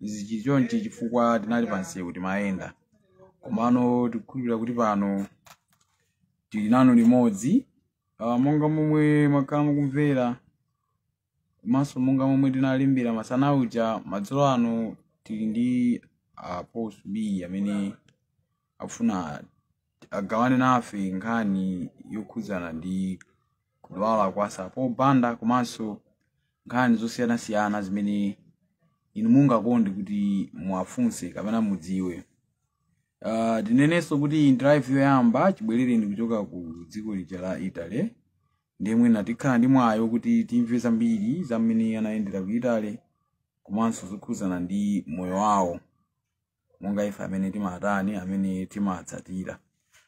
izi chili chonchi chifukwa tinali pa msewu timayenda komano tikukhulupirira kuti pano tili nanu limodzi Ah, monga momwe mwakhala mukumvera komanso monga momwe tinalembera masana uja madzulo ano tili ndi Apostle B amene akufuna agawane nafe nkhani yokhudzana ndi kudwala kwa Sapo Banda komanso nkhani zosiyanasiyana zimene inu mungakonde kuti muwafunse kapena mudziwe. Uh, tinenenso kuti ndi live yoyamba chibwerereni kuchoka ku dziko lija la Italy ndiye mwina tikhala ndi mwayi woti timve zambiri za mmene anayendera ku Italy komanso zokhudzana ndi moyo wawo. monga ife amene timatani amene timatsatira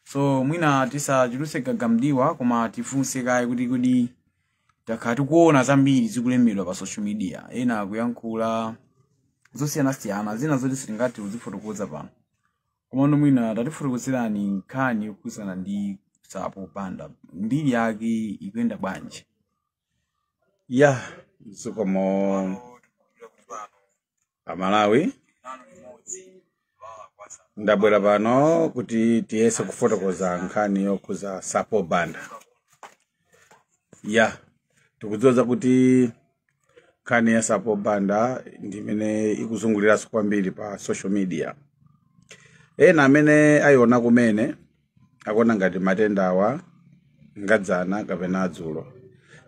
so mwina tisachuluse gaga mdiwa koma tifunse kaye kuti kodi takhala tikuona zambiri zikulembedwa pa social media ena akuyankhula zosiyanasiyana zina zoti sitingathe kuzifotokoza pano komano mwina tatifotokozerani nkhani yokhudzana ndi Sapo Banda mbiri yake ikuyenda bwanji ya zikomo amalawi ndabwera pano kuti tiyese kufotokoza nkhani yokhudza Sapo Banda ya tikudziwa zakuti nkhani ya Sapo Banda ndi imene ikuzunguliranso kwambiri pa social media ena amene ayiona kumene akuona ngati matenda awa nga dzana kapena adzulo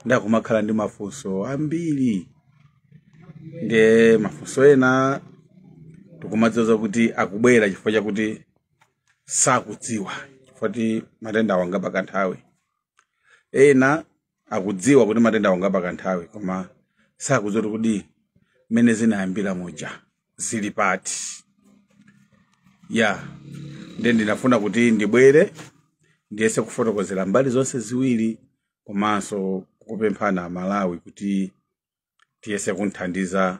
nde akumakhala ndi mafunso ambiri ndiye mafunso ena tikumadziwa kuti akubwera chifukwa chakuti sakudziwa chifukwa kuti matenda awa ngapakanthawi ena akudziwa kuti matenda awa ngapakanthawi koma sakudziwa kuti kodi mmene zinayambira muja zili pati ya nde ndinafuna kuti ndibwere ndiyese kufotokozera mbali zonse ziwiri komanso kupemphana amalawi kuti tiyese kumthandiza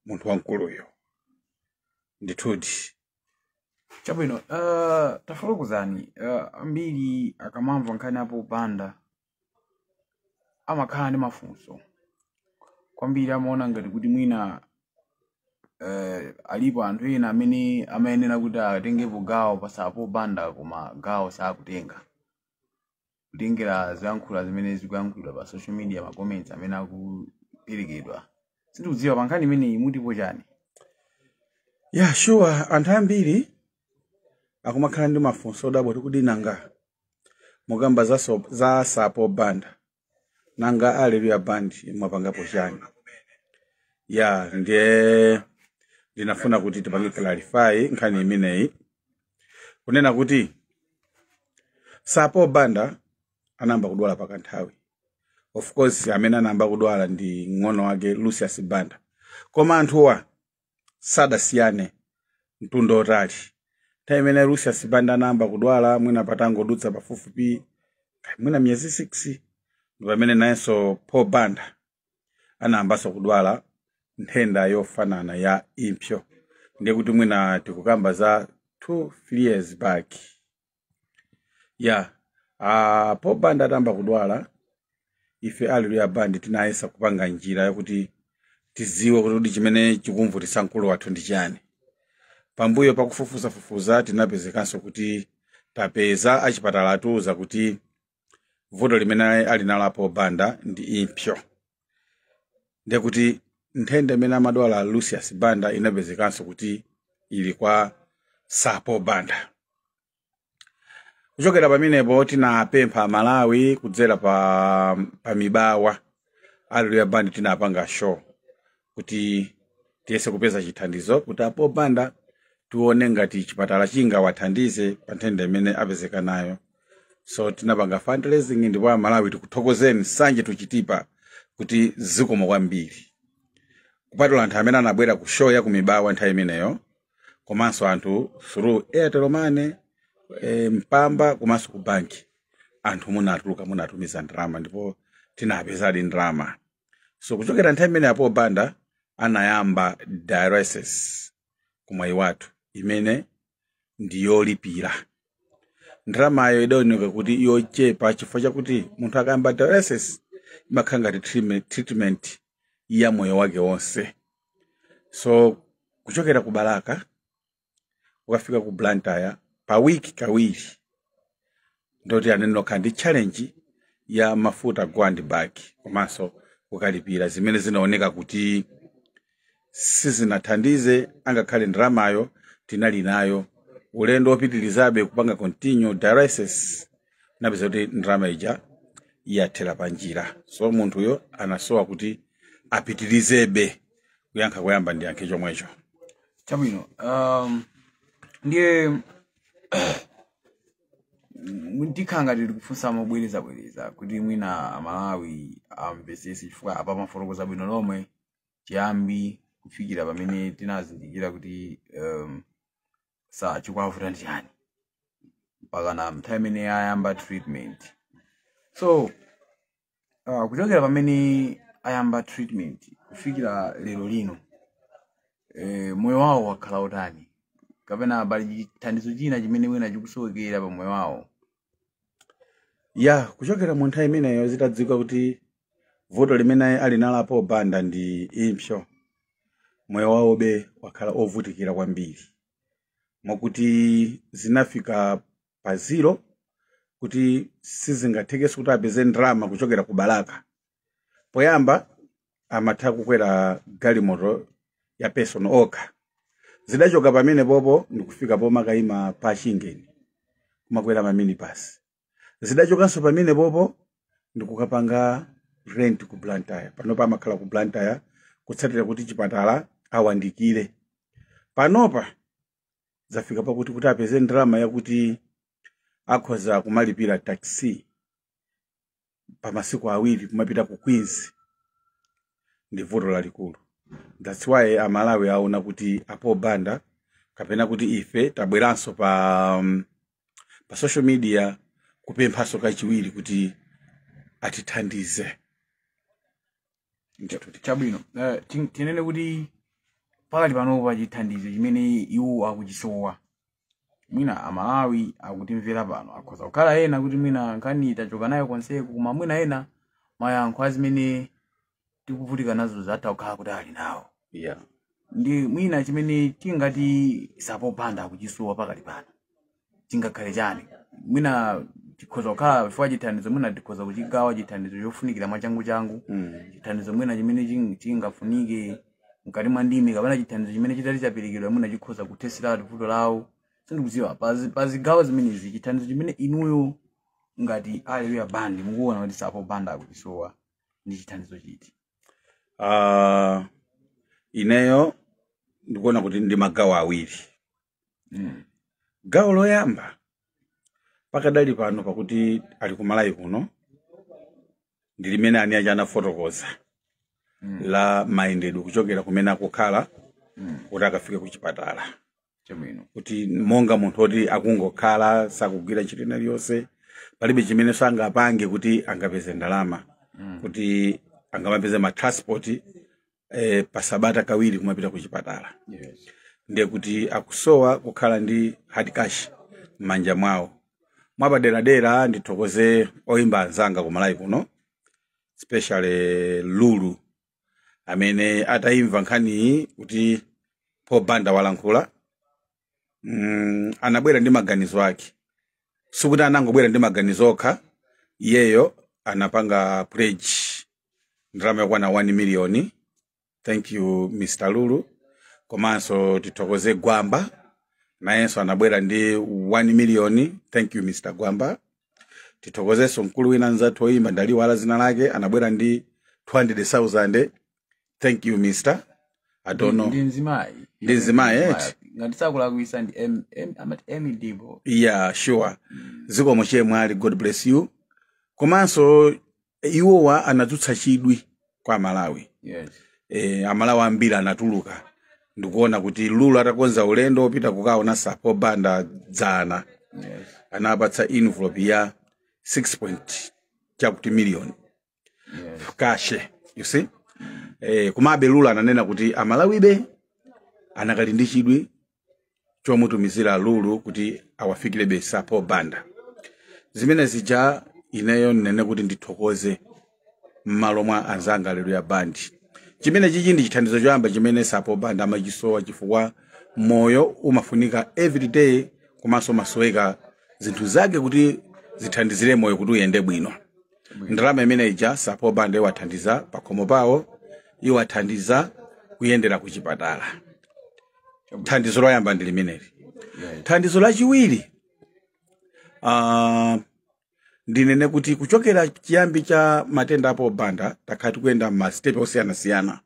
munthu wamkuluyo ndithudi chabwino uh, tafotokozani uh, ambiri akamamva nkhani ya Sapo Banda amakhala ndi mafunso kwambiri amaona ngati kuti mwina eh, alipo anthu ena amene amayenera kuti atengepo gawo pa Sapo Banda koma gawo sakutenga kutengera zoyankhula zimene zikuyankhulidwa pa social media ma comments amene akuperekedwa sindikudziwa pa nkhani imeneyi mutipo chani ya sure anthu ambiri akumakhala ndi mafunso odabwa kuti kodi nanga mukamba za, so, za sir paul banda nanga aleluya band mwapangapo chani ya ndiye ndinafuna kuti tipange clarify nkhani imeneyi kunena kuti sir paul banda anayamba kudwala pakanthawi of course amene anayamba kudwala ndi mng'ono wake lucius banda koma anthuwa sadasiyane mtunda otali nthawi imene lucius banda anayamba kudwala mwina patangodutsa pafupifupi mwina miyezi 6 ndi pamene nayenso paul banda anayambanso kudwala nthenda yofanana ya impsyo ndiye kuti mwina tikukamba za 2 3 years back ya a paul banda atayamba kudwala ife aleluya band tinayesa kupanga njira yakuti tiziwe kuti kuti chimene chikumvutitsa mkulu wathu ndi chani pambuyo pakufufuzafufuza tinapezekanso kuti tapeza achipatala atiuza kuti vuto limene ali nalo a paul banda ndi impsyo ndiye kuti nthenda imene amadwala lucius banda inapezekanso kuti ili kwa sir paul banda kuchokera pamenepo tinapempha amalawi kudzera pa, pa mibawa aleluya band tinapanga show kuti tiyese kupeza chithandizo kuti a paul banda tione ngati chipatala chingawathandize pa nthenda imene apezeka nayo so tinapanga fundraising ndipo amalawi tikuthokozeni sanje tuchitipa kuti zikomo kwambiri kupatula anthu amene anabwera ku show ya kumibawa nthawi imeneyo komanso anthu through airtel money e, mpamba komanso ku banki anthu munatuluka munatumiza ndalama ndipo tinapezadi ndalama so kuchokera nthawi imene a paul banda anayamba dialysis ku mwaiwathu imene ndi yolipira ndalamayo idaoneka kuti yochepa chifukwa chakuti munthu akayamba dialysis imakhala ngati treatment- treatment ya moyo wake wonse so kuchokera ku balaka ukafika ku blantyre pa wiki kawiri ndiye kuti anayenera kukhala ndi challenge ya mafuta go and back komanso kukalipira zimene zinaoneka kuti sizinathandize angakhale ndalamayo tinali nayo ulendo wopitirizabe kupanga continue dialysis tinapeza kuti ndalama ija yathera pa njira so munthuyo anasowa kuti apitirizebe kuyankha koyamba ndiyankhe chomwecho chabwino um, ndiye tikhala ngati tikufunsa mobwerezabwereza kuti mwina amalawi amvesese chifukwa apa mwafotokoza bwino lomwe chiyambi kufikira pamene tinazindikira kuti um, sa chikuwavuta ndi chani mpakana nthawi imene ayamba treatment so uh, kuchokera pamene ayamba treatment kufikira lero lino eh, moyo wawo wakhala utani kapena pali chithandizo china chimene mwina chikusowekera pa moyo wawo ya kuchokera mu nthawi imeneyo zitadziwika kuti vuto limene ali nalo a paul banda ndi impsyo moyo wawobe wakhala ovutikira kwambiri mwakuti zinafika pa zero kuti sizingathekenso kuti apeze ndalama kuchokera ku balaka poyamba amatha kukwera galimoto ya personal okha zidachoka pamenepopo ndikufika pomakayima pa chingeni kumakwera maminibasi zidachokanso pamenepopo ndikukapanga rent ku blantyre panopa amakhala ku blantyre kutsatira kuti chipatala awandikire panopa zafika pakuti kuti apeze ndalama yakuti akhoza kumalipira taxi pa masiku awiri kumapita ku queens ndi vuto lalikulu that's why amalawi aona kuti a paul banda kapena kuti ife tabweranso pa um, pa social media kupemphanso kachiwiri kuti atithandize ndithu chabwino Eh, tin- tinene kuti pakali panopa chithandizo chimene iwo akuchisowa mwina amalawi akutimvera pano akhoza kukhala ena kuti mwina nkhani tachoka nayo konseko koma mwina ena mayankho a zimene tikuvutika nazo zatha kukhala kuti ali nawo yeah ndi mwina chimene tingati sir paul banda akuchisowa pakali pano chingakhale chani mwina tikhoza kukhala chifukwa chithandizo mwina tikhoza kuchigawa chithandizo chofunikira mwachanguchangu Mm. chithandizo mwina chimene ching- chingafunike mkati mwa ndime kapena chithandizo chimene chitati chaperekedwa mwina chikhoza kuthetseratu vuto lawo sindikudziwa pazi- pa zigawo zimenezi chithandizo chimene inuyo ngati alleluya band mukuona kuti sir paul banda akuchisowa ndi chithandizo chiti Ah, ineyo ndikuona kuti ndi magawo awiri mm. gawo loyamba pakadali pano pakuti ali ku malawi kuno ndi limene ani aja anafotokoza mm. la mayendedwe kuchokera kumene akukhala mm. kuti akafike ku chipatala chabwino kuti monga munthu woti akungokhala sakugwira ntchito ina iliyonse palibe chimene sangapange kuti angapeze ndalama kuti angamapeze ma transport eh, pasabata kawiri kumapita ku chipatala Yes. ndiye kuti akusowa kukhala ndi hard cash m'manja mwawo mwapaderadera ndithokoze oyimba anzanga ku malawi kuno especially lulu amene atayimva nkhaniyi kuti paul banda walankhula mm, anabwera ndi maganizo ake sikuti anangobwera ndi maganizo okha iyeyo anapanga pledge ndalama yokwana 1 miliyoni thank you mr lulu komanso tithokoze gwamba nayenso anabwera ndi 1 miliyoni thank you mr gwamba tithokozenso mkulu wina nzathu oyimba ndaliiwala dzina lake anabwera ndi 200,000 thank you mister i don't know ndi mzimayi Ndi mzimayi, Mzimayi. eti? ngati sakulakwisa ndi M- M- amati Emmie Deebo yeah sure zikomo chemwali god bless you komanso iwowa anadzutsa chidwi kwa amalawi yes e, amalawi ambiri anatuluka ndikuona kuti lulu atakonza ulendo opita kukaona Sir Paul Banda dzana yes anapatsa envelope ya 6 point chakuti million Yes. kashe you see eh, komabe lulu ananena kuti amalawibe anakali ndi chidwi chomutumizira lulu kuti awafikirebe Sir Paul Banda zimene zija ineyo ndinene kuti ndithokoze m'malo mwa anzanga Alleluya Band chimene chichi ndi chithandizo choyamba chimene Sir Paul Banda amachisowa chifukwa moyo umafunika everyday komanso umasoweka zinthu zake kuti zithandizire moyo kuti uyende bwino ndalama imene ija Sir Paul Banda iwathandiza pakhomo pawo iwathandiza kuyendera ku chipatala thandizo loyamba ndi limeneli thandizo lachiwiri ah, ndinene kuti kuchokera chiyambi cha matenda a Paul Banda takhala tikuyenda masitepe osiyanasiyana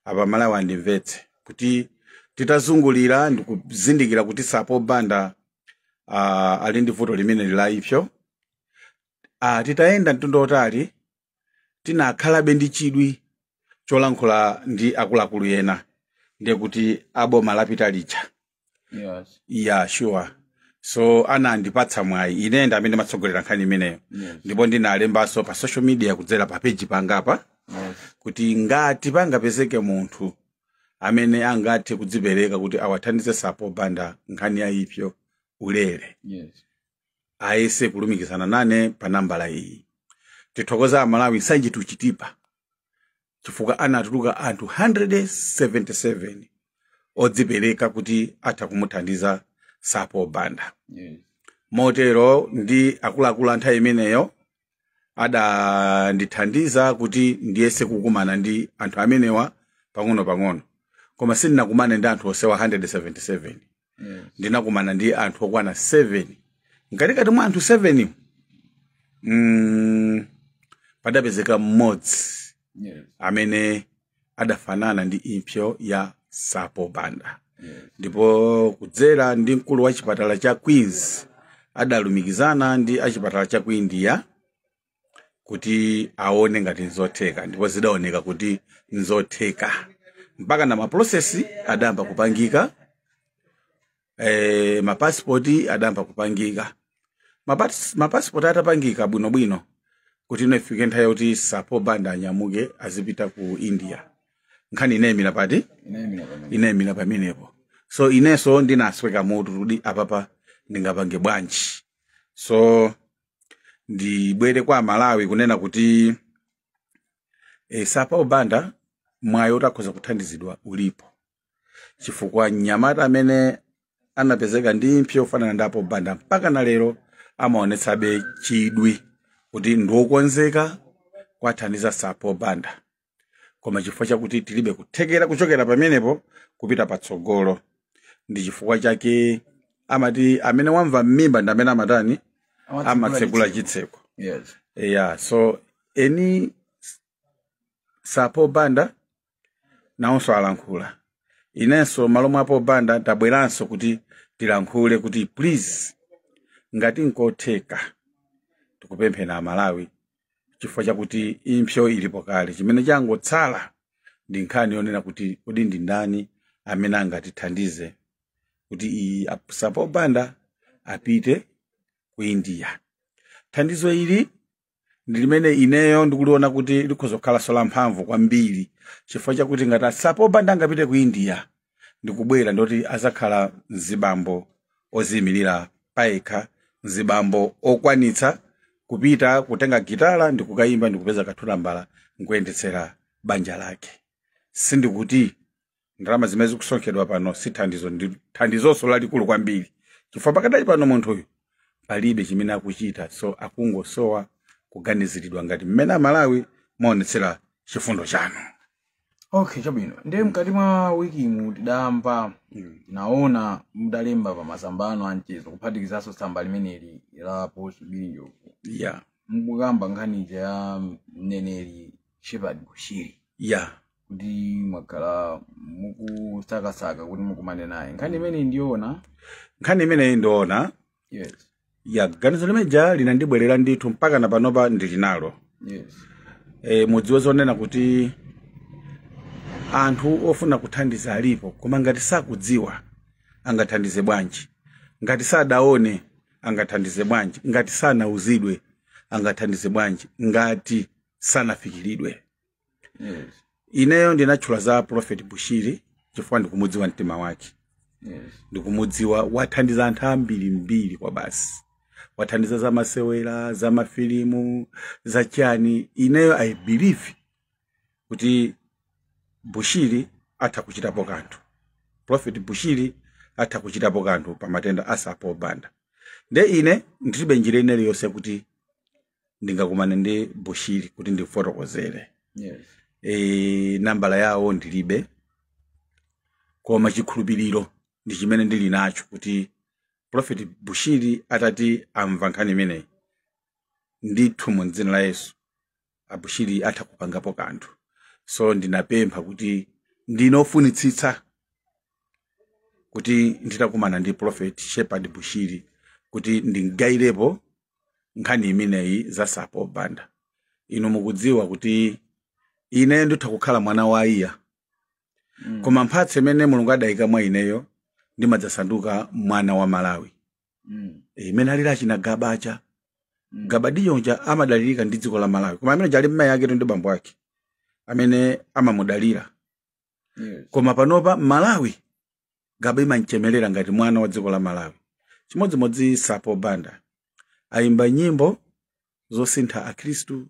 apa amalawi andimvetse kuti titazungulira ndikuzindikira kuti Sir Paul Banda uh, ali ndi vuto limeneli la impso ah, titayenda mtunda wotali tinakhalabe ndi chidwi cholankhula ndi akuluakulu ena ndiye kuti a boma lapita lija Yes. ya sure so anandipatsa mwayi ine ndi amene matsogolera nkhani imeneyo Yes. ndipo ndinalembanso pa social media kudzera pa peji pangapa Yes. kuti ngati pangapezeke munthu amene angathe kudzipereka kuti awathandize Sir Paul Banda nkhani ya impso ulere Yes. ayese kulumikizana nane pa nambala iyi tithokoza amalawi Nsanje to Chitipa chifukwa anatuluka anthu 177 odzipereka kuti atha kumuthandiza Sir Paul Banda motero ndi akuluakulu a nthawi imeneyo adandithandiza kuti ndiyese kukumana ndi anthu amenewa pang'ono-pang'ono koma sindinakumane ndi anthu onsewa 177 ndinakumana ndi anthu okwana 7 mkatikati mwa anthu 7 mm, padapezeka mmodzi Yes. amene adafanana ndi impsyo ya sir paul banda Yes. ndipo kudzera ndi mkulu wa chipatala cha queens adalumikizana ndi achipatala cha ku india kuti aone ngati nzotheka ndipo zidaoneka kuti nzotheka mpaka na mapulosesi adayamba kupangika eh, mapasipoti adayamba kupangika Mapas- mapasipoti atapangika bwinobwino kuti ino ifike nthawi yoti sir paul banda anyamuke azipita ku india nkhani inayimira pati Inaimira pamene. inayimira pamenepo so inenso ndinasweka mutu kuti apapa ndingapange bwanji so ndibwere kwa amalawi kunena kuti e, sir paul banda mwayi oti akhoza kuthandizidwa ulipo chifukwa mnyamata amene anapezeka ndi impsyo yofanana ndi a paul banda mpaka na lero amaonetsabe chidwi kuti ndiwokonzeka kuwathandiza sir paul banda koma chifukwa chakuti tilibe kuthekera kuchokera pamenepo kupita patsogolo ndi chifukwa chake amati amene wamva m'mimba ndi amene amatani amatsegula chitseko yes yeah so eni sir paul banda nawonso alankhula inenso m'malo mwa paul banda tabweranso kuti tilankhule kuti please ngati nkotheka tikupempheni amalawi chifukwa chakuti impsyo ilipo kale chimene changotsala ndi nkhani yonena kuti kodi ndi ndani amene angatithandize kuti iyi a sir paul banda apite ku india thandizo ili ndi limene ineyo ndikuliona kuti likhoza kukhalanso lamphamvu kwambiri chifukwa chakuti ngati a sir paul banda angapite ku india ndikubwera ndoti azakhala mzibambo oziyimirira payekha mzibambo okwanitsa kupita kutenga gitala ndikukayimba ndikupeza kathulambala nkuyendetsera banja lake sindikuti ndalama zimene zikusonkhedwa pano si thandizo ndi thandizonso lalikulu kwambiri chifukwa pakadali pano munthuyu palibe chimene akuchita so akungosowa kuganiziridwa ngati mmene amalawi mwaonetsera chifundo chanu okay chabwino ndiye mkati mwa wiki mu tidamva naona mudalemba pa masamba anu anchezo kuphatikizanso tsamba limeneli la paul subili njovu ya mukukamba nkhani ija ya mneneri shepherd bushiri ya kuti mwakhala mukusakasaka kuti mukumane naye nkhani imeneyi ndiyoona nkhani imeneyi ndiyoona yes ya ganizo limeja linandibwerera ndithu mpaka na panopa ndili nalo yes e, mudziwe zonena kuti anthu ofuna kuthandiza alipo koma ngati sakudziwa angathandize bwanji ngati sadaone angathandize bwanji ngati sanauzidwe angathandize bwanji ngati sanafikiridwe Yes. ineyo ndinatchula za prophet bushiri chifukwa ndikumudziwa mtima wake Yes. ndikumudziwa wathandiza anthu ambiri mbiri kwabasi wathandiza za masewera za mafilimu za chani ineyo i believe kuti bushiri atha kuchitapo kanthu prophet bushiri atha kuchitapo kanthu pa matenda a sir paul banda nde ine ndilibe njira ina iliyonse kuti ndingakumane ndi bushiri kuti ndimfotokozere Yes. e, nambala yawo ndilibe koma chikhulupiriro ndi chimene ndili nacho kuti profeti bushiri atati amva nkhani imeneyi ndithu mu dzina la yesu abushiri atha kupangapo kanthu so ndinapempha kuti ndine ofunitsitsa kuti nditakumana ndi profeti shepherd bushiri kuti ndimgayirepo nkhani imeneyi za sir paul banda inu mukudziwa kuti ine nditha kukhala mwana wa aiya Mm. koma mphatso imene mulungu adayika mwa ineyo ndimadzasanduka mwana wa malawi Mm. Eh, mmene alili achina gabacha Mm. gabadinho uja amadalirika ndi dziko la malawi koma amene uja ali mmayi aketu ndi bambo ake amene amamudalira Yes. koma panopa malawi gaba imamchemerera ngati mwana wa dziko la malawi chimodzimodzi sir paul banda ayimba nyimbo zosintha akhristu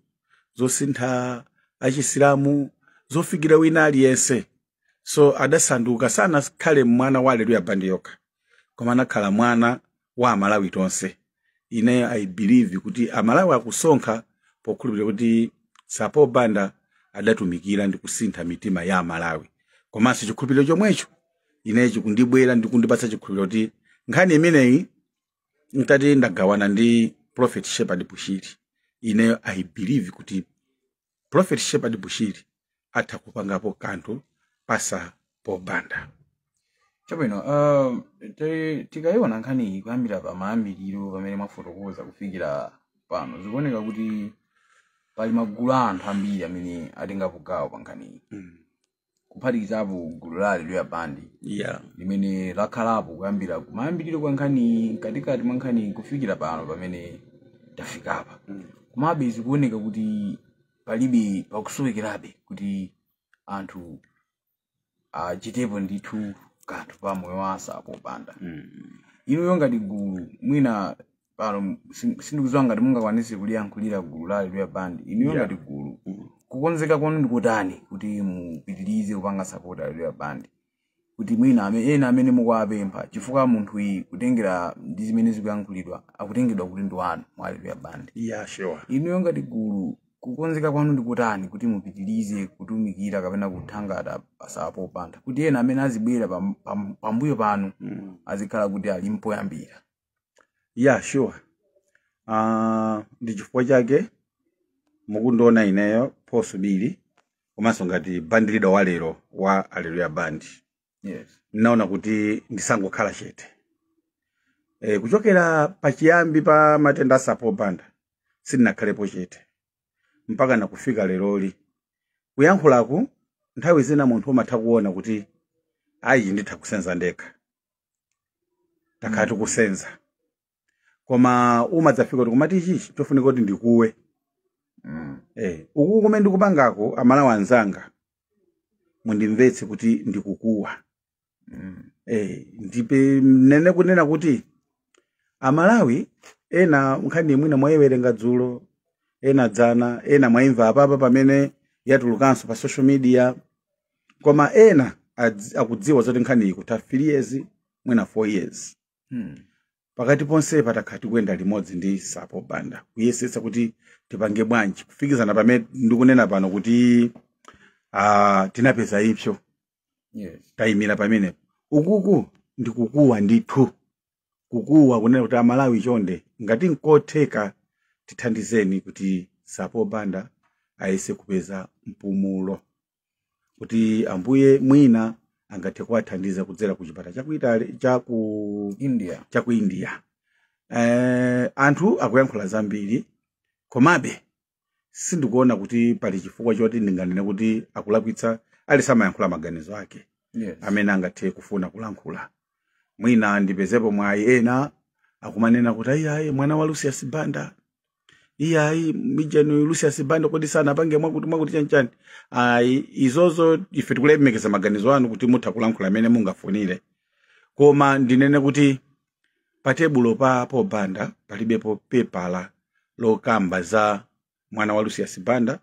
zosintha achisilamu zofikira wina aliyense so adasanduka sanakhale mwana wa aleluya bandi yokha koma anakhala mwana wa amalawi tonse ineyo i believe kuti amalawi akusonkha pokhulupirira kuti sir paul banda adatumikira ndi kusintha mitima ya amalawi komanso chikhulupiriro chomwecho ineyo chikundibwera ndi kundipatsa chikhulupiriro kuti nkhani imeneyi nditati ndagawana ndi prophet shepherd bushiri ineyo i believe kuti prophet shepherd bushiri atha kupangapo kanthu pa sir paul banda chabwino uh, ti- tikayiona nkhaniyi kuyambira pa mayambiriro pamene mwafotokoza kufikira pano zikuoneka kuti pali magulu a anthu ambiri amene atengapo gawo pa nkhaniyi kuphatikizapo gulu la aleluya bandi yeah limene lakhalapo kuyambira kumayambiriro kwa nkhani mkatikati mwa nkhani kufikira pano pamene tafikapa komabe zikuoneka kuti palibe pakusowekerabe kuti anthu achitepo ndithu kanthu pa moyo wa a sir paul banda inuyo ngati gulu mwina pano sin- sindikudziwa ngati mungakwanise kuliyankhulira gulu la Alleluya band inuyo Yeah. ngati gulu kukonzeka kwanu ndi kotani kuti mupitirize kupanga support Alleluya band kuti mwina ame- ena amene mukuwapempha chifukwa munthu uyu kutengera ndi zimene zikuyankhulidwa akutengedwa kuti ndi wanu mu Alleluya band Yeah, sure. inuyo ngati gulu kukonzeka kwanu ndi kotani kuti mupitirize kutumikira kapena kuthangata Sir Paul Banda kuti ena amene azibwera pam- pam- pambuyo panu Mm. azikhala kuti ali mpoyambira ya sure uh, ndi chifukwa chake mukundiona ineyo Paul Subili komanso ngati band leader wa lero wa Alleluya band yes ndinaona kuti ndisangokhala chete e, kuchokera pachiyambi pa matenda a Sir Paul Banda sindinakhalepo chete mpaka nakufika leroli kuyankhulaku nthawi zina munthu umatha kuona kuti ayi nditha kusenza ndekha takhala tikusenza koma umadzafika kuti kumati ichichi chofunika kuti ndikuwe Mm. eh, uku kumene ndikupangako amalawi anzanga mundimvetse kuti ndikukuwa Mm. eh, ndipo ndinene kunena kuti amalawi ena nkhaniyi mwina mwayiwerenga dzulo ena dzana ena mwayimva apapa pamene yatulukanso pa social media koma ena adzi- akudziwa zoti nkhani ikutha 3 years mwina 4 years Hmm. pakati ponsepa takhala tikuyenda limodzi ndi Sir Paul Banda kuyesetsa kuti tipange bwanji kufikizana pamene ndikunena pano kuti ah, tinapeza impso Yes. tayimira pamenepo ukuku ndikukuwa ndithu kukuwa kunena kuti amalawi chonde ngati nkotheka tithandizeni kuti Sir Paul Banda ayese kupeza mpumulo kuti ambuye mwina angathe kuwathandiza kudzera ku chipata cha ku Italy- cha ku india cha ku india eh, anthu akuyankhula zambiri komabe sindikuona kuti pali chifukwa choti ndinganene kuti akulakwitsa aliyense amayankhula maganizo ake Yes. mmene angathe kufuna kulankhula mwina ndipezepo mwayi ena akumanena kuti iyayi mwana wa lucius banda iyayi mijani lucius banda kodi sanapange mwakuti mwakuti chanchani ayi izozo ife tikulemekeza maganizo anu kuti mutha kulankhula mmene mungafunire koma ndinene kuti Patebulo pa Paul Banda palibepo pepala lokamba za mwana wa Lucius Banda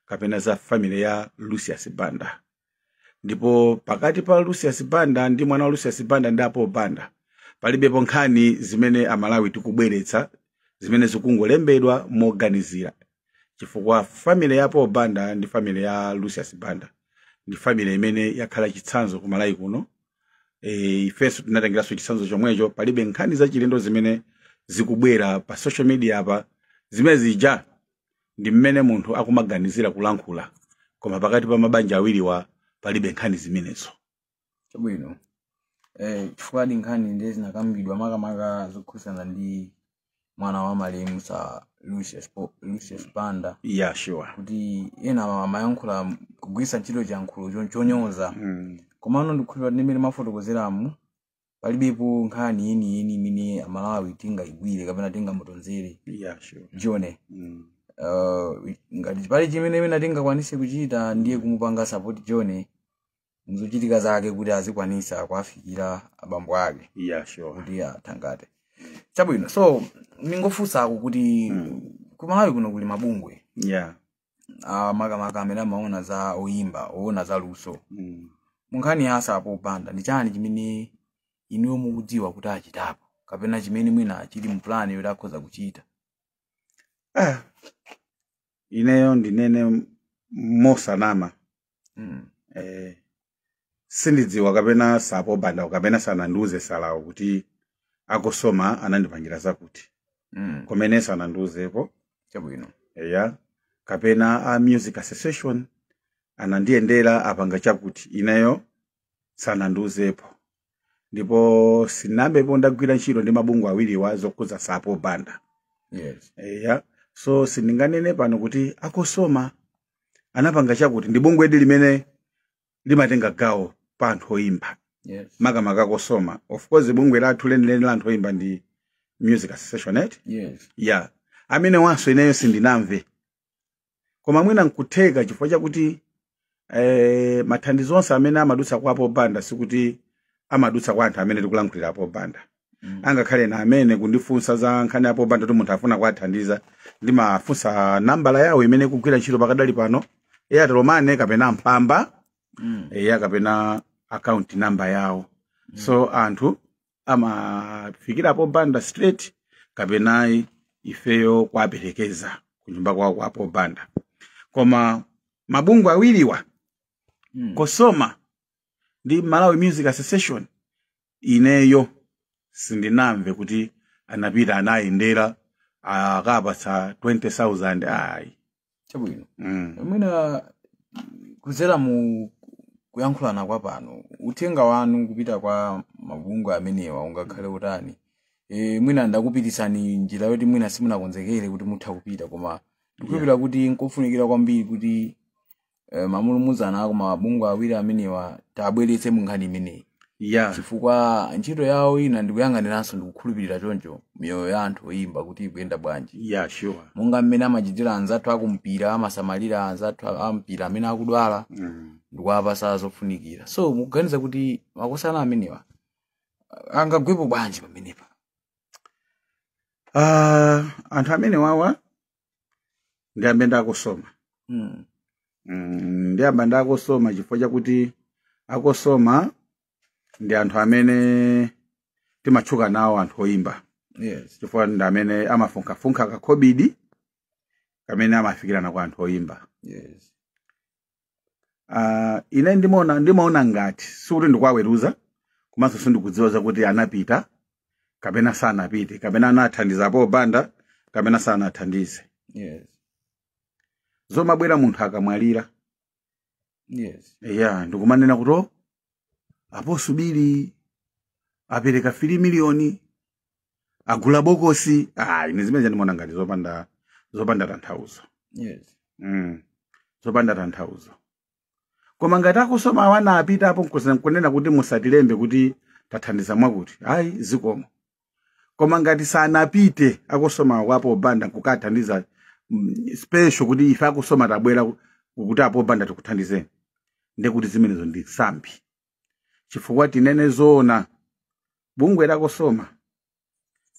kapena za family ya Lucius Banda. Ndipo pakati pa Lucius Banda ndi mwana wa Lucius Banda ndi a Paul Banda palibepo nkhani zimene Amalawi tikubweretsa zimene zikungolembedwa moganizira. chifukwa family ya Paul Banda ndi family ya Lucius Banda ndi family imene yakhala chitsanzo ku Malawi kuno e, ifenso tinatengeranso chitsanzo chomwecho palibe nkhani zachilendo zimene zikubwera pa social media apa zimene zija ndi mmene munthu akumaganizira kulankhula koma pakati pa mabanja awiriwa palibe nkhani zimenezo chabwino eh, chifukwadi nkhani ndiye zinakambidwa makamaka zokhudzana ndi mwana wa malemu Sir Lucius, Po- Lucius Banda yeah sure kuti ena amayankhula kugwiritsa ntchito chiyankhulo cho- chonyoza mm. komano ndikhulupirira ndi mmene mafotokozeramu palibepo nkhani yeniyeni imene amalawi tingayigwire kapena tingamutonzere yeah sure Johnny mm. uh, ngati pali chimene imene tingakwanise kuchita ndiye kumupanga support Johnny mzochitika zake kuti azikwanisa kuafikira abambo ake yeah sure kuti athangate chabwino so ndingofunsako kuti Mm. ku malawi kuno kuli mabungwe yeah ah, makamaka amene amaona za oyimba oona za luso mm. munkhani ya Sir Paul Banda ndi chani chimene inuyo mukudziwa kuti achitapo kapena chimene mwina chili mu plan yoti akhoza kuchita ah ineyo ndinene mosanama Mm. eh, sindidziwa kapena Sir Paul Bandawo kapena sanandiuze Sir-wo kuti a COSOMA anandipangira zakuti Mm. komwe sanandiuzepo chabwino eya kapena a music association anandiyendera apanga chakuti ineyo sanandiuzepo ndipo sindinayambepo ndagwira ntchito ndi mabungwe awiriwa zokhudza Sir Paul Banda yes eya so sindinganene pano kuti a COSOMA anapanga chakuti ndi bungwedi limene limatenga gawo pa anthu oyimba yes makamaka a COSOMA of course bungwe lathu lenileni la anthu oyimba ndi music association et yes ya amene awanso ineyo sindinamve koma mwina nkutheka chifukwa chakuti eh, mathandizo onse amene amadutsa kwa Paul Banda sikuti amadutsa kwa anthu amene tikulankhulira Paul Banda Mm. angakhale ine amene kundifunsa za nkhani ya Paul Banda kuti munthu afuna kuwathandiza ndimafunsa nambala yawo imene ikugwira ntchito pakadali pano airtel money kapena mpamba Mm. eya kapena account number yawo so anthu amafikira Paul Banda straight kapena ifeyo kuwaperekeza kunyumba kwawo kwa Paul Banda koma mabungwe awiriwa Mm. COSOMA ndi malawi music association ineyo sindinamve kuti anapita anayendera akapatsa 20000 ayi chabwino mm. mwina kudzera mu kuyankhulana kwa pano uthenga wanu kupita kwa mabungwe amenewa ungakhale utani e, mwina ndakupititsani njira yoti mwina simunakonzekere kuti mutha kupita koma ndikhulupira kuti nkofunikira kwambiri kuti e, mamulumuzana a ku mabungwe awiri amenewa tiwabweretse mu nkhani imeneyi ya chifukwa ntchito yawo ina ndikuyang'aniranso ndikukhulupirira choncho miyoyo ya anthu oyimba kuti ikuyenda bwanji ya sure monga mmene amachitira anzathu akumpira amasamalira anzathu a- ampira amene akudwala mm. ndikuwapasa zofunikira so mukuganiza kuti makosana amenewa angagwepo bwanji pamenepa Ah, anthu amenewawa ndiyambe nda cosoma Mm. Mm, ndiyamba ndi a cosoma chifukwa chakuti a cosoma ndi anthu amene timatchuka nawo anthu oyimba Yes. chifukwa ndi amene amafunkhafunkha kakhobidi kamene amafikirana kwa anthu oyimba Yes. uh, ine ndimaona ndimaona ngati sikuti ndikuwaweruza komanso sindikudziwa zakuti anapita kapena sanapite kapena anathandiza paul banda kapena sanathandize yes zomabwera munthu akamwalira yes ya ndikumanena kuti "Oh, a paul subili apereka 3 miliyoni agula bokosi ah, ine zimenezo ndimaona ngati zopanda zopanda tanthauzo Yes. mm. zopanda tanthauzo koma ngati a cosoma awa anapitapo nkuza- nkunena kuti musatilembe kuti tathandiza mwakuti ayi zikomo koma ngati sanapite a cosoma kwa paul banda nkukathandiza mm, special kuti ife a cosoma tabwera ku- kuti a paul banda tikuthandizeni ndekuti zimenezo ndi nsambi chifukwa tinene zoona bungwe la cosoma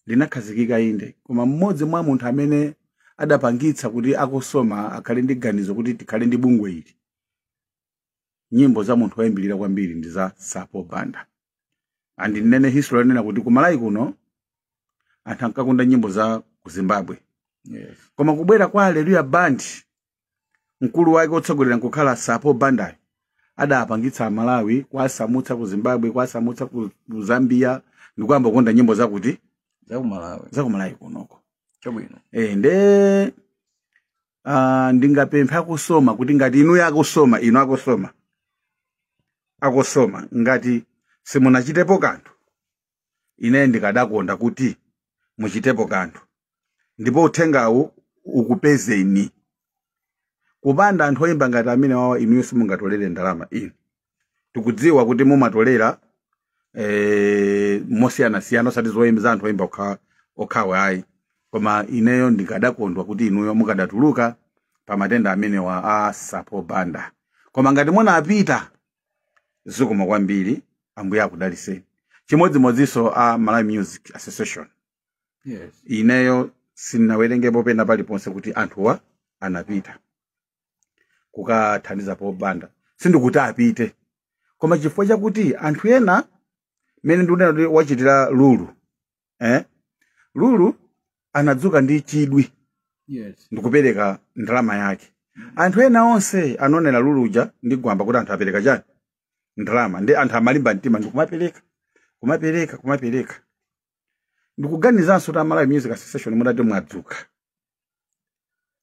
linakhazikika inde koma mmodzi mwa munthu amene adapangitsa kuti a cosoma akhale ndi ganizo kuti tikhale ndi bungwe ili nyimbo za munthu woyambirira kwambiri ndi za sir paul banda and nnene history yonena kuti ku malawi kuno anthu ankakonda nyimbo za ku zimbabwe Yes. koma kubwera kwa alleluya band mkulu wake otsogolera nkukhala sir paul banda adapangitsa amalawi kuwasamutsa ku zimbabwe kuwasamutsa ku ku zambia ndikuyamba kukonda nyimbo zakuti Za ku Malawi. za ku malawi kunoko Chabwino. e, nde uh, ndingapemphe a cosoma kuti ngati inuyo a cosoma inu a cosoma a cosoma ngati simunachitepo kanthu ine ndikadakonda kuti muchitepo kanthu ndipo uthengawu ukupezeni kupanda anthu oyimba ngati amenewawa inuyo simungatolere ndalama inu tikudziwa kuti mumatolera eh, mosiyanasiyana osati zoyimba za anthu oyimba okha- okhawo ayi koma ineyo ndikadakondwa kuti inuyo mukadatuluka pa matenda amenewa a sir paul banda koma ngati munapita zikomo kwambiri ambuye akudalitseni chimodzimodzinso a malawi music association yes. ineyo sinawerengepo pena paliponse kuti anthuwa anapita kukathandiza paul banda sindikuti apite koma chifukwa chakuti anthu ena mmene ndikunena kuti wachitira lulu eh? lulu anadzuka ndi chidwi yes ndikupereka ndalama yake anthu ena onse anaonera lulu uja ndi gwamba kuti anthu apereka chani ndalama nde anthu amalimba mtima ndikumapereka kumapereka kumapereka ndikuganizanso kuti a malawi music association mutati mwadzuka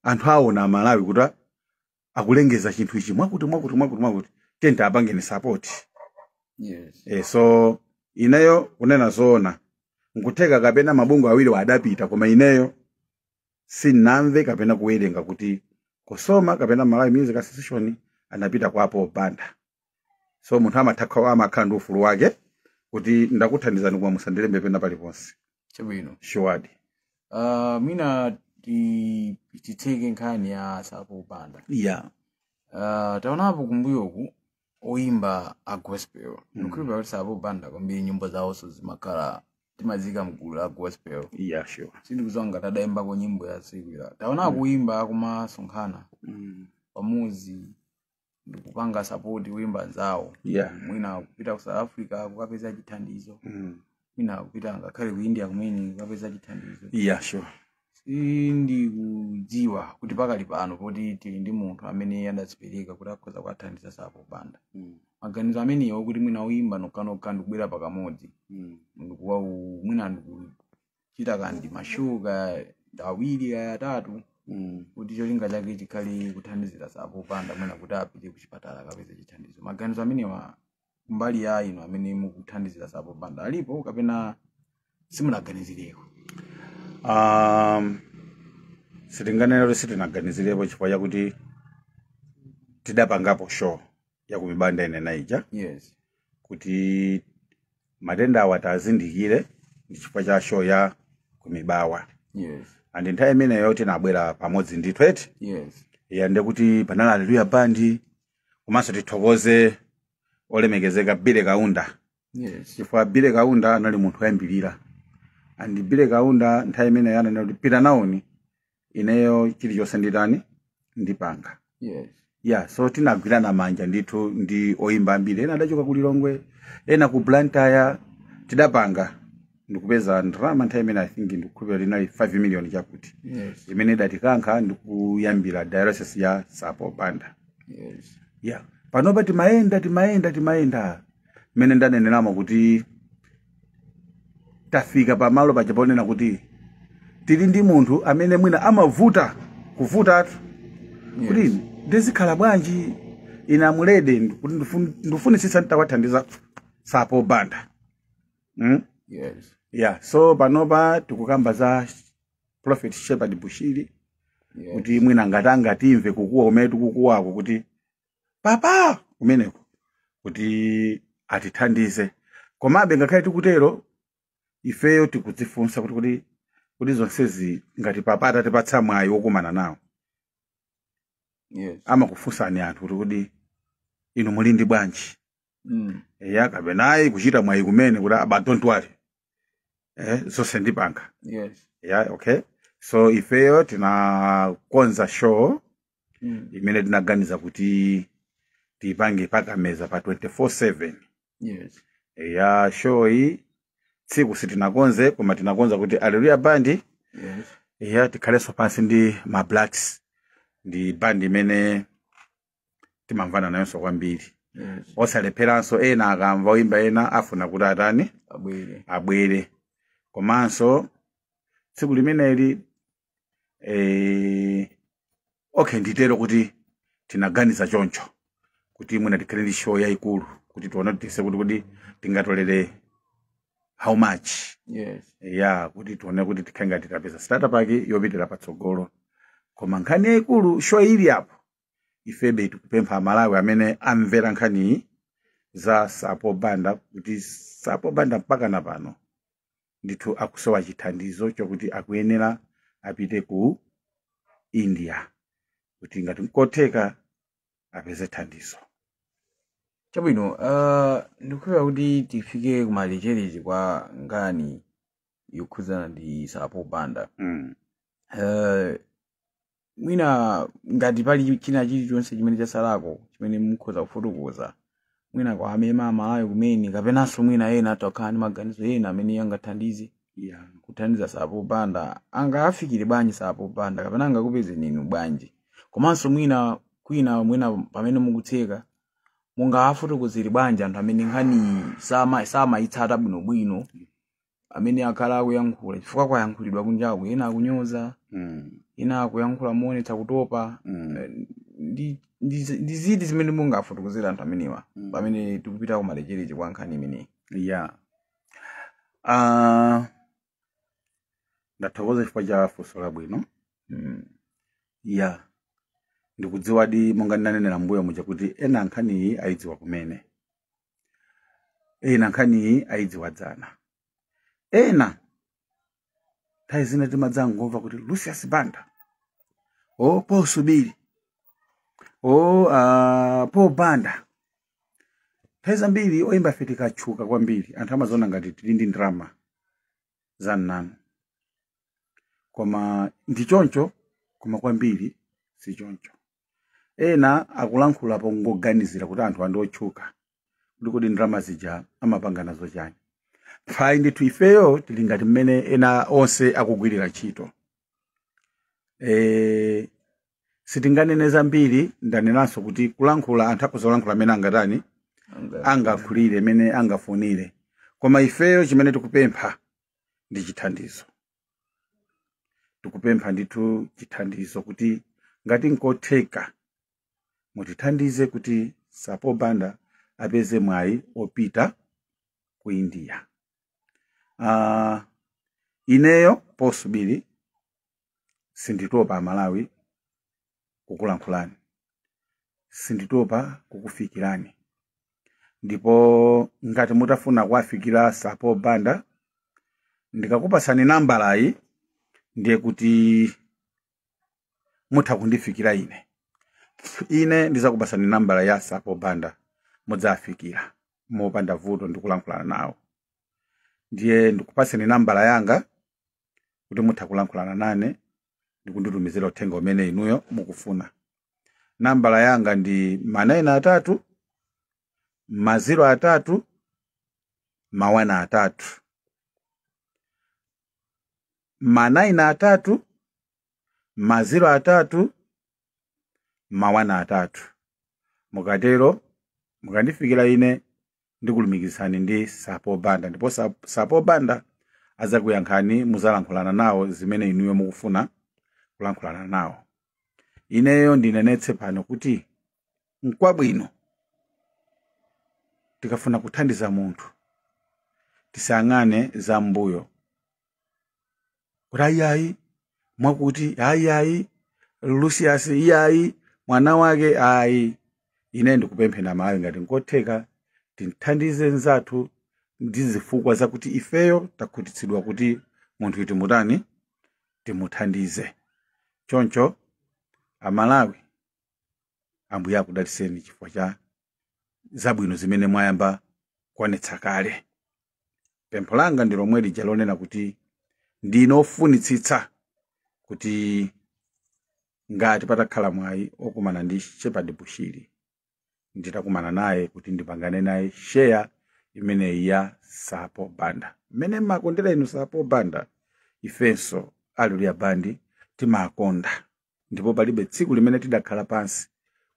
anthu aona amalawi kuti a- akulengeza chinthu ichi mwakuti mwakuti mwakuti mwakuti tiyeni tiwapangeni sapoti Yes. e, so ineyo kunena zoona nkutheka kapena mabungwe awiriwa adapita koma ineyo sinamve kapena kuwerenga kuti cosoma kapena malawi music association anapita kwa a paul banda so munthu amatha kukhala- amakhala ndi ufulu wake kuti ndakuthandizani koma musandilembe pena paliponse chabwino shuwadi uh, mwina ti- titseke nkhani ya sir paul banda yeah uh, taonapo kumbuyoku oyimba a gospel ndikukhulupira kuti sir paul banda kwambiri nyimbo zawonso zimakhala timaziika mgulu la gospel yeah sure sindikudziwa ngati adayimbako nyimbo ya secular taona oyimba akumasonkhana pamodzi ndikupanga sapoti oyimba anzawo Yeah. mwina kupita ku south africa kukapeza chithandizo Mm. mwina kupita ngakhale ku india kumene kukapeza chithandizo Yeah, sure. sindikudziwa kuti pakali pano poti tili ndi munthu amene adadzipereka kuti akhoza kuwathandiza sir paul banda Mm. maganizo amenewo kuti mwina oyimba nokhanokha ndikubwera pakamodzi Mm. ndikuwa mwina ndiku- chita kaya ndi ma show kaya awiri kaya atatu Mm. kuti cholinga chake chikhale kuthandizira sir paul banda mwina kuti apite kuchipatala akapeze chithandizo maganizo amenewa kumbali ya inu amene mukuthandizira sir paul banda alipo kapena simunaganizireko um, sitinganene kuti sitinaganizirepo chifukwa chakuti tidapangapo show ya kumibawa ndanena ija yes kuti matenda awa tiwazindikire ndi chifukwa cha show ya kumibawa yes and nthawi imeneyo tinabwera pamodzi ndi tweti yes and kuti panali alleluya band komanso tithokoze olemekezeka billy kaunda yes chifukwa billy kaunda anali munthu oyambirira and billy kaunda nthawi imeneyo ananena kuti pita naoni ineyo chilichonse nditani ndipanga yes ya so tinagwirana manja ndithu ndi oyimba ambiri ena adachoka ku lilongwe ena ku blantyre tidapanga ndikupeza ndalama nthawi imene i think ndikukhulupirira inali 5 million chakuti yes imene idatikankha ndikuyambira dialysis ya sapo banda yes ya panopa timayenda timayenda timayenda mmene ndaneneramo kuti tafika pamalo paja ponena kuti tili ndi munthu amene mwina amavuta kuvutatu kuti Yes. ndizikhala bwanji ine amulede kuti ndifun- ndifunitsitsa nditawathandiza sapo banda mm? Yes. yeah so panopa tikukamba za prophet shepherd bushiri Yes. kuti mwina ngati angatimve kukuwa kumene tikukuwako kuti papa kumeneko kuti atithandize komabe ngakhale tikutero ifeyo tikudzifunsa kuti kuti kuti zonsezi ngati papa atatipatsa mwayi wokumana nawo yes amakufunsani anthu kuti kuti inu muli ndi bwanji mm. eya kapena ayi kuchita mwayi kumene kuti abwana don't worry eh, zonse ndipanga yes yeah, okay so ifeyo tinakonza show mm. imene tinaganiza kuti tiipange pa Kameza pa 24/7 yes ya show iyi tsiku sitinakonze koma tinakonza kuti Alleluya Band yes ya tikhalenso pansi ndi Ma Blacks ndi bandi imene timamvana nayonso kwambiri Yes. osalepheranso ena akamva oyimba ena afuna kuti atani Abwere. abwere komanso tsiku limeneli eh, okay nditero kuti tinaganiza choncho kuti mwina tikhale ndi show yayikulu kuti tione tise kuti kuti tingatolere how much Yes. ya kuti tione kuti tikhale ngati tapeza startup yake yopitira patsogolo koma nkhani yayikulu show ili apo ifeyo tikupempha amalawi amene amvera nkhani za sapo banda kuti sapo banda mpaka na pano ndithu akusowa chithandizo chokuti akuyenera apite ku india kuti ngati nkotheka apeze thandizo chabwino uh, ndikukhulupirira kuti tifike kumalecherechi kwa nkhani yokhudzana ndi sapo banda mm. uh, mwina ngati pali china chilichonse chimene chasalako chimene mukhoza kufotokoza mwina kwa amema amalawi kumene kapenanso mwina ena atakhala ndi maganizo ena amene angathandize yeah. kuthandiza sapo banda angafikire bwanji sapo banda kapena angakupezeni inu bwanji komanso mwina kwina mwina pamene mukutseka mungafotokozere bwanji anthu amene nkhani sama- samayitsata bwinobwino amene akhala akuyankhula chifukwa kwayankhulidwa kunjaku ena akunyoza Mm. ena akuyankhula moonetsa kutopa Mm. Eh, ndi ndi- ndi ziti zimene mungafotokozera anthu amenewa Mm. pamene tikupita kumalechereche kwa nkhani imeneyi ya Ah, ndathokoza chifukwa cha funso labwino Mm. ya ndikudziwadi monga ndinanenera mbuyo muja kuti ena nkhaniyi ayidziwa kumene ena nkhaniyi ayidziwa dzana ena nthawi zina timadzangomva kuti lucius banda o paul subiri o uh, paul banda nthawi zambiri oyimbafe tikatchuka kwambiri anthu amaziona ngati tili ndi ndalama zamnanu koma ndi choncho koma kwambiri si choncho ena akulankhula pongoganizira kuti anthuwa ndi otchuka kuti kodi ndalama zija amapanga nazo chani ayi ndithu ifeyo tili ngati mmene ena onse akugwirira ntchito e, sitinganene zambiri ndanenanso kuti kulankhula anthu akhoza kulankhula mmene angatani angalankhulire mmene angafunire koma ifeyo chimene tikupempha ndi chithandizo tikupempha ndithu chithandizo kuti ngati nkotheka mutithandize kuti sir paul banda apeze mwayi opita ku india uh, ineyo paul subiri sinditopa amalawi kukulankhulani sinditopa kukufikirani ndipo ngati mutafuna kuwafikira sir paul banda ndikakupasani nambalayi ndiye kuti mutha kundifikira ine ine ndizakupasani nambala ya sir paul banda mudzafikira mopanda vuto ndikulankhulana nawo ndiye ndikupaseni nambala yanga kuti mutha kulankhulana nane ndi kunditumizira uthenga umene inuyo mukufuna nambala yanga ndi manayina atatu maziro atatu mawana atatu manayina atatu maziro atatu mawana atatu mukatero mukandifikira ine ndikulumikizani ndi sir paul banda ndipo sir p- sir paul banda adzakuyankhani muzalankhulana nawo zimene inuyo mukufuna kulankhulana nawo ineyo ndinenetse pano kuti nkwabwino tikafuna kuthandiza munthu tisayang'ane za mbuyo kuti ayiayi mwakuti ayiayi lucius iyayi mwana wake ayi ine ndikupemphani amalawi ngati nkotheka tithandize nzathu ndi zifukwa zakuti ifeyo takhutitsidwa kuti munthuyi timutani timuthandize choncho amalawi ambuye akudaliseni chifukwa cha zabwino zimene mwayamba kuonetsa kale pempho langa ndi lomwe lija lonena kuti ndine ofunitsitsa kuti ngati patakhala mwayi okumana ndi shepherd bushiri nditakumana naye kuti ndipangane naye share imeneyi ya sapo banda mmene mmakondera inu sapo banda ifenso alleluya band timakonda ndipo palibe tsiku limene tidakhala pansi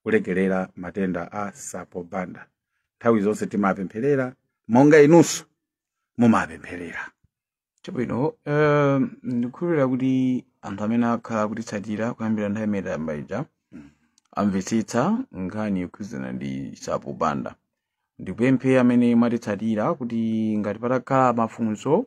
kulekerera matenda a sapo banda nthawi zonse timapempherera monga inunso mumapempherera chabwino eh, ndikukhulupirira kuti anthu amene akhala akutitsatira kuyambira nthawi imene tayamba ija amvetsetsa nkhani yokhudzana ndi sapo banda ndikupemphe amene mwatitsatira kuti ngati patakhala mafunso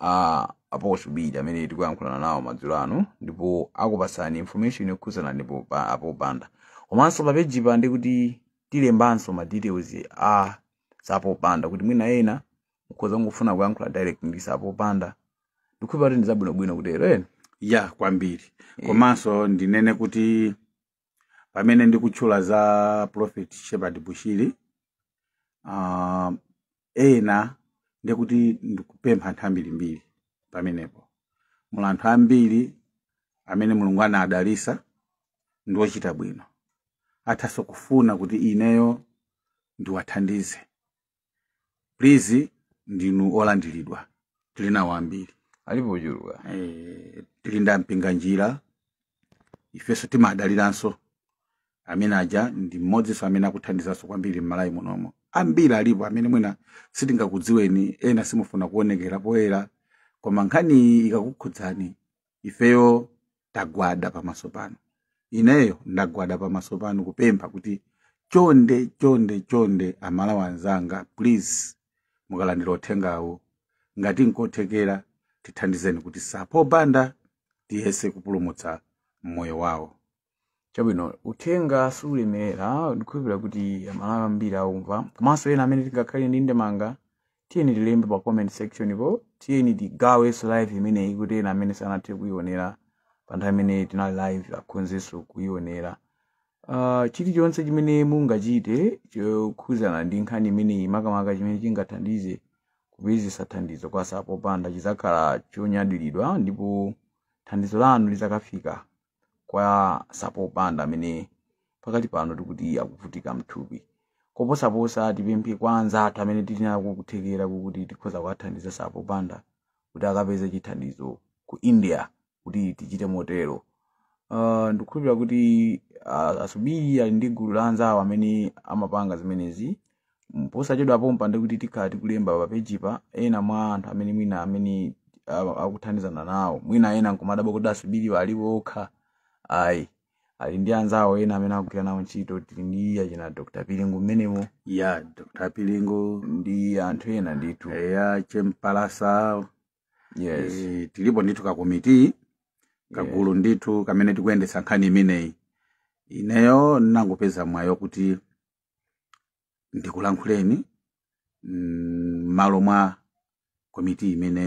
a apostle bili amene tikuyankhulana nawo madzulo ano ndipo akupasani information yokhuzana ndi sapo banda komanso pa page pa ndikuti tilembanso ma details a sapo banda kuti mwina ena mukhoza kungofuna kuyankhula direct ndi sapo banda ndikhulupirira kuti ndizabwinobwino kutero ena ya kwambiri Eh. komanso ndinene kuti pamene ndikutchula za prophet shepherd bushiri uh, ena ndiye kuti ndikupempha anthu ambirimbiri pamenepo muli anthu ambiri amene mulungu anadalitsa ndi ochita bwino athanso kufuna kuti ineyo ndiwathandize please ndinu olandiridwa tili nawo ambiri alipo ochuluka eh, tili ndi a mpinganjira ifenso timadaliranso amene aja ndi mmodzinso amene akuthandizanso kwambiri mmalawi munomo ambiri alipo amene mwina sitingakudziweni ena simufuna kuonekera poyera koma nkhani iyi ikakukhudzani ifeyo tagwada pamaso panu ineyo ndagwada pamaso panu kupempha kuti chonde chonde chonde amalawi anzanga please mukalandira uthengawu ngati nkothekera tithandizeni kuti sapo banda tiyese kupulumutsa moyo wawo chabwino uthenga sulemerera ndikukhulupirira kuti amalawi ambiri aumva komanso ena amene tingakhale ndi ndemanga tiyeni tilembe pa comment section po tiyeni tigawenso live imeneyi kuti ena amene sanathe kuionera pa nthawi imene tinali live akhonzenso kuionera uh, chilichonse chimene mungachite chokhuzana ndi nkhani imeneyi makamaka chimene chingathandize kupezesa thandizo kwa sapo banda chizakhala chonyadiridwa ndipo thandizo lanu lizakafika kwa sapo banda amene pakali pano tikuti akuvutika mthupi koposaposa tipemphe kwa anzathu amene tili nako kuthekera kukuti tikhoza kuwathandiza sapo banda kuti akapeze chithandizo ku india kuti tichite motero uh, ndikukhulupirira kuti uh, asubiri ali ndi gulu la anzawo amene amapanga zimenezi Mm, posachedwa pompa ndikuti tikhala tikulemba pa page pa ena mwa anthu amene mwina amene a- akuthandizana nawo mwina ena nkumadabwa kuti asubiriwa ali okha ayi ali ndi anzawo ena amene akugwira nawo ntchito tili ndi achina dr pilingu mmenemo ya dr pilingu ndi anthu ena ndithu eya chempalasa yes Eh, tilipo ndithu kakomiti kagulu ndithu kamene tikuyendetsa nkhani imeneyi ineyo ndinangopeza mwayi kuti ndikulankhuleni m'malo mm, mwa komiti imene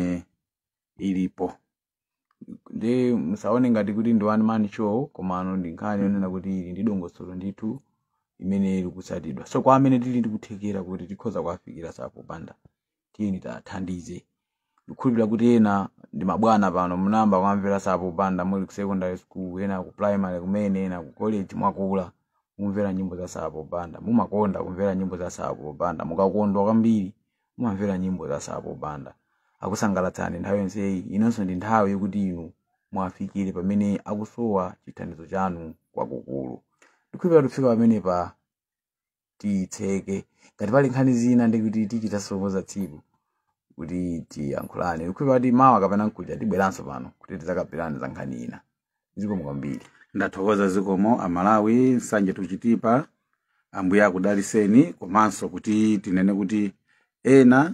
ilipo nde musaone ngati kuti ndi one man show komano ndi nkhani yonena kuti ili ndi dongosolo ndithu limene likutsatidwa so kwa amene tili ndikuthekera kuti tikhoza kuwafikira sapo banda tiyeni tiwathandize ndikukhulupirira kuti ena ndi mabwana pano munayamba kuwamvera sapo banda muli ku secondary school ena ku primary kumene ena ku college mwakula mukumvera nyimbo za sapo banda mumakonda kumvera nyimbo za sapo banda mukakondwa kwambiri mumamvera nyimbo za sapo banda akusangalatsani nthawi yonseyi inonso ndi nthawi yokuti inu muwafikire pamene akusowa chithandizo chanu kwakukulu ndikukhulupirira kufika pamenepa tiyitseke ngati pali nkhani zina ndikuti tichita somo za tsiku kuti tiyankhulane ndikukhulupirira kuti mawa kapena mkuja tibweranso pano kuti tidzakambirane za nkhani ina zikomo kwambiri ndathokoza zikomo amalawi nsanje tuchitipa ambuye akudaliseni komanso kuti tinene kuti ena